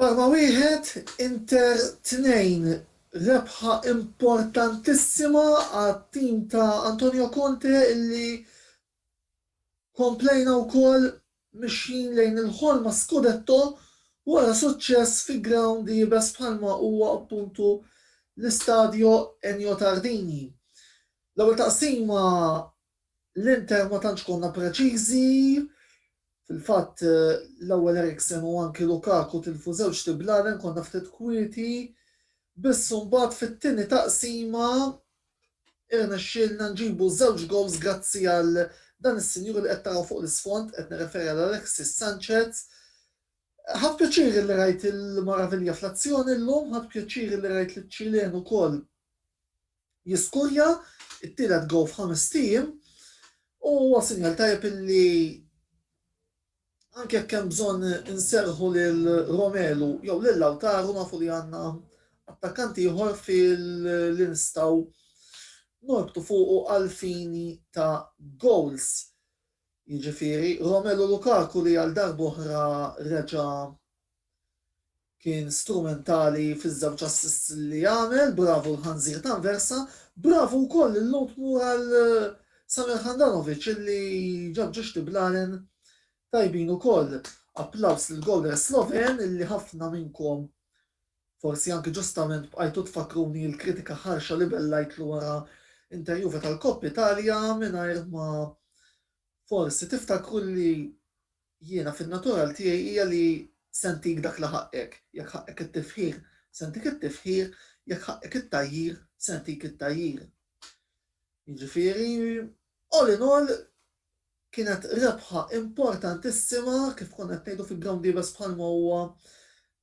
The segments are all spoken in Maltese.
Parma wieħed, Inter tnejn, rebħa importantissima għat-tim ta' Antonio Conte illi komplejna wkoll mixjin lejn il-ħolma scudetto wara suċċess fi grawnd iebes bħalma huwa appuntu l-Istadio Ennio Tardini. L-ewwel taqsima L-Inter ma tantx konna preċiżi, fil-fatt l-ewwel Eriksen u anki Lukaku tilfu żewġ tiblalen, konna ftit kwieti, biss imbagħad fit-tieni taqsima irnexxielna nġibu żewġ gowls grazzi għal dan is-sinjur li qed taraw fuq l-isfond, qed nirreferi għal Alexis Sanchez. Ħadt pjaċir illi rajt il-Moraviglia fl-azzjoni llum, ħadt pjaċir illi rajt liċ-Ċilen ukoll jiskurja t-tielet goal f'ħamest ijiem u huwa sinjal tajjeb illi anke jekk hemm bżonn inserrħu lil Romelu jew lil Lautaro nafu li għandna attakkant ieħor li nistgħu norbtu fuqu għal fini ta' goals. Jiġifieri Romelu Lukaku li għal darb'oħra reġa' Kien strumentali fiż-żewġ assists li għamel, bravu l-ħanżir t'Anversa, bravu wkoll lil Lhud Moore għal Samir Handanovic illi ġab ġuġ tiblalen tajbin ukoll. Applaws lill-gowler Sloven illi ħafna minnkom forsi anki ġustament bqajtu tfakkruni l-kritika ħarxa li bellajtlu wara Inter Juve tal-Coppa Italia mingħajr ma forsi tiftakru li Jiena fin-natural tiegħi hija li se ntik dak li ħaqqek, jekk ħaqqek it-tifħir, se ntik it-tifħir, jekk ħaqqek it-tgħajjir, se ntik it-tgħajjir. Jiġifieri, all in all, kienet rebħa importantissima, kif konna qed ngħidu fi ground iebes bħalma huwa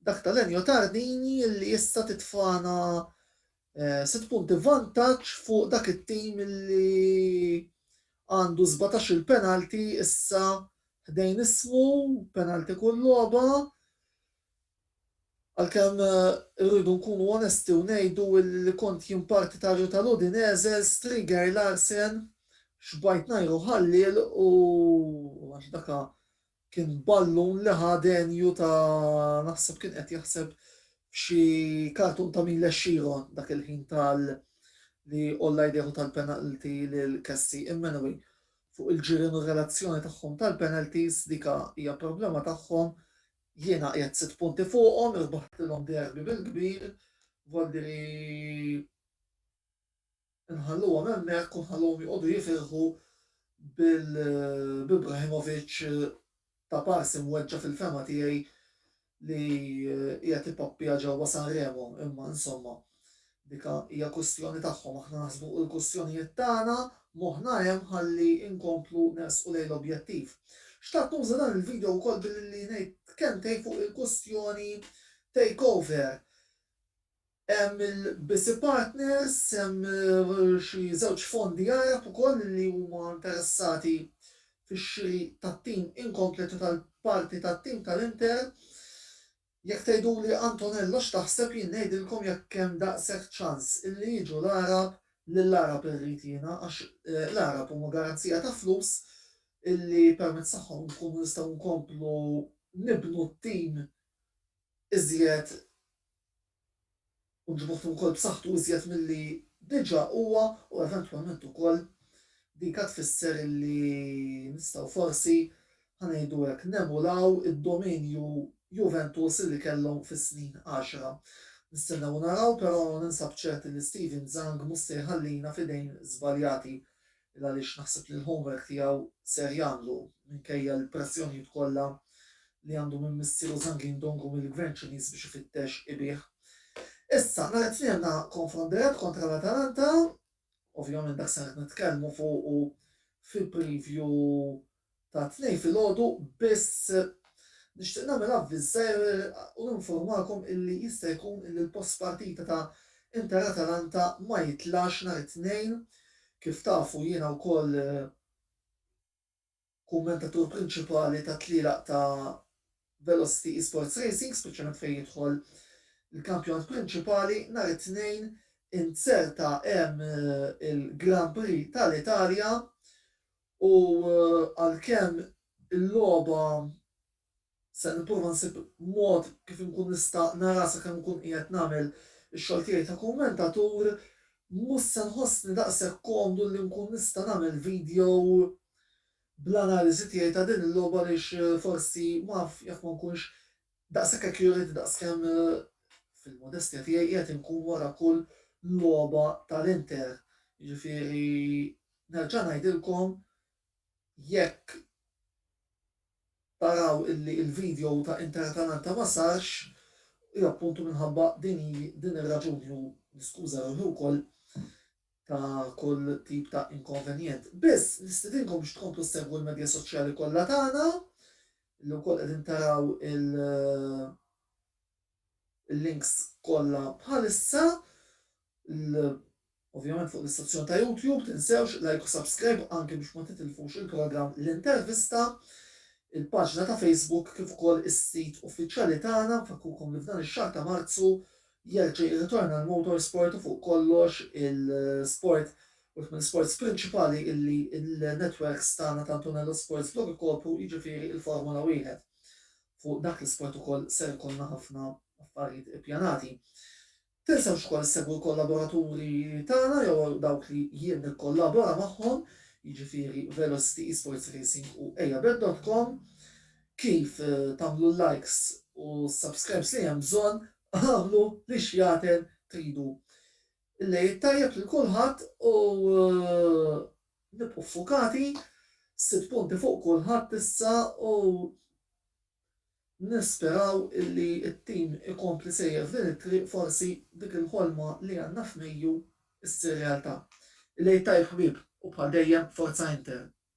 dak tal-Ennio Tardini, li issa titfagħna Sitt punti vantaġġ fuq dak it-tim li għandu sbatax-il penalti issa ħdejn ismu, penalti kull logħba. Għalkemm irridu nkunu onesti u ngħidu li kont jien partitarju tal-Udinese, Striger Larsen xbajt ngħiru ħalliel u għax daka Kien ballun li ħa denju ta' naħseb kien qed jaħseb f'xi kartun ta' Mil Ex Sheeran dak il-ħin tal li għolla jdejh u ta l-penalty lil Cassie. Immanway, fuq il-ġirien u r-relazzjoni tagħhom tal-penalties, dika hija problema tagħhom, jiena qiegħed sitt punti fuqhom, irbaħtilhom derby bil-kbir, vuol dire Inħalluhom hemmhekk u nħalluhom joqogħdu jifirħu b'Ibrahimovic ta' pars imweġġa' fil-fehma tiegħi li qiegħed ipappja ġewwa Sanremo imma insomma dika hija kwistjoni tagħhom aħna naħsbu u l-kwistjonijiet tagħna moħħna hemm ħalli nkomplu nersqu lejn l-objettiv. Xtaqt nuża dan il-video wkoll billi ngħid kemtejn fuq il-kwistjoni takeover. Hemm il-BC Partners, hemm xi żewġ fondi Għarab ukoll li huma interessati fix-xiri tat-tim inkomplet u tal-parti tat-tim tal-Inter. Jekk tgħiduli Antonello x'taħseb jien ngħidilkom jekk hemm daqshekk ċans illi jiġu l-Għarab, lill-Għarab irrid jiena għax l-Għarab huma garanzija ta' flus illi permezz tagħhom inkunu nistgħu nkomplu nibnu t-tim iżjed kontribut ukoll b'saħħtu iżjed milli diġà huwa u eventwalment ukoll din ka tfisser li nistgħu forsi, ħa ngħidu hekk, nemulaw id-dominju Juventus li kellhom fis-snin għaxra. Nistennew u naraw, però ninsab ċert li Steven Zhang mhux se jħallina f'idejn żbaljati. il għaliex naħseb li l-homework tiegħu ser jagħmlu minkejja l-pressjonijiet kollha li għandu minn missieru Zhang Yindong u mill-Gvern Ċiniż biex ifittex ibigħ. Issa, nhar it-Tnien għandna konfront dirett kontra l-Atalanta, ovvjament dak ser nitkellmu fuqu fi preview ta' Tnejn filgħodu biss. Nixtieq nagħmel avviżar u ninformakom illi jista' jkun illi l-post partita ta' Inter Atalanta ma jitlax nhar it-Tnejn. Kif tafu jiena wkoll kummentatur prinċipali tat-tlielaq ta' Velocity Esports Racing, speċjalment fejn jidħol il-kampjonat prinċipali. Nhar it-Tnejn inzerta hemm il-Grand Prix tal-Italja U għalkemm il-logħba se nipprova nsib mod kif inkun nista' naraha sakemm nkun qiegħed nagħmel ix-xogħol tiegħi ta' kummentatur, mhux se nħossni daqshekk komdu li nkun nista' nagħmel video bl-analiżi tiegħi ta' din il-logħba għaliex forsi m'af jekk ma nkunx daqshekk accurate daqskemm, fil-modestja tiegħi, qiegħed inkun wara kull logħba tal-Inter. Jiġifieri. Nerġa' ngħidilkom jekk taraw illi il-video ta' Inter Atalanta ma sarx, hi appuntu minħabba din hi din ir-raġuni u niskuża ruħi wkoll ta' kull tip ta' inkonvenjent. Biss nistidinkom biex tkomplu ssegwu l-medja soċjali kollha tagħna, li wkoll qegħdin taraw il- il-links kollha bħalissa l ovvjament fuq l-istazzjon ta' YouTube tinsewx like u subscribe anki biex ma titilfux il-programm L-Intervista, il-paġna ta' Facebook kif ukoll is-sit uffiċjali tagħna, nfakkurkom li f'dan ix-xahar ta' Marzu jerġa' jirritorna l-motorsport u fuq kollox il-sport wieħed mill-isports prinċipali illi n-netwerks tagħna ta' Antonello Sports Blog ikopru jiġifieri l-Formula Wieħed. fuq dak l-isport ukoll ser ikollna ħafna affarijiet ippjanati. Tinsewx ukoll issegwu l-kollaboraturi tagħna jew dawk li jien nikkollabora magħhom, jiġifieri Velocity Esports Racing u Ejabet.com. Kif tagħmlu l-likes u s-subscribes li hemm bżonn, agħmlu li x'jagħten tridu. Il-Għid tajjeb lil kulħadd u Nibqgħu ffukati, sitt punti fuq kulħadd issa u nisperaw illi t-tim ikompli sejjer f'din it-triq forsi dik il-ħolma li għandna f'Mejju ssir realtà. Il-Għid Tajjeb ħbieb u bħal dejjem Forza Inter!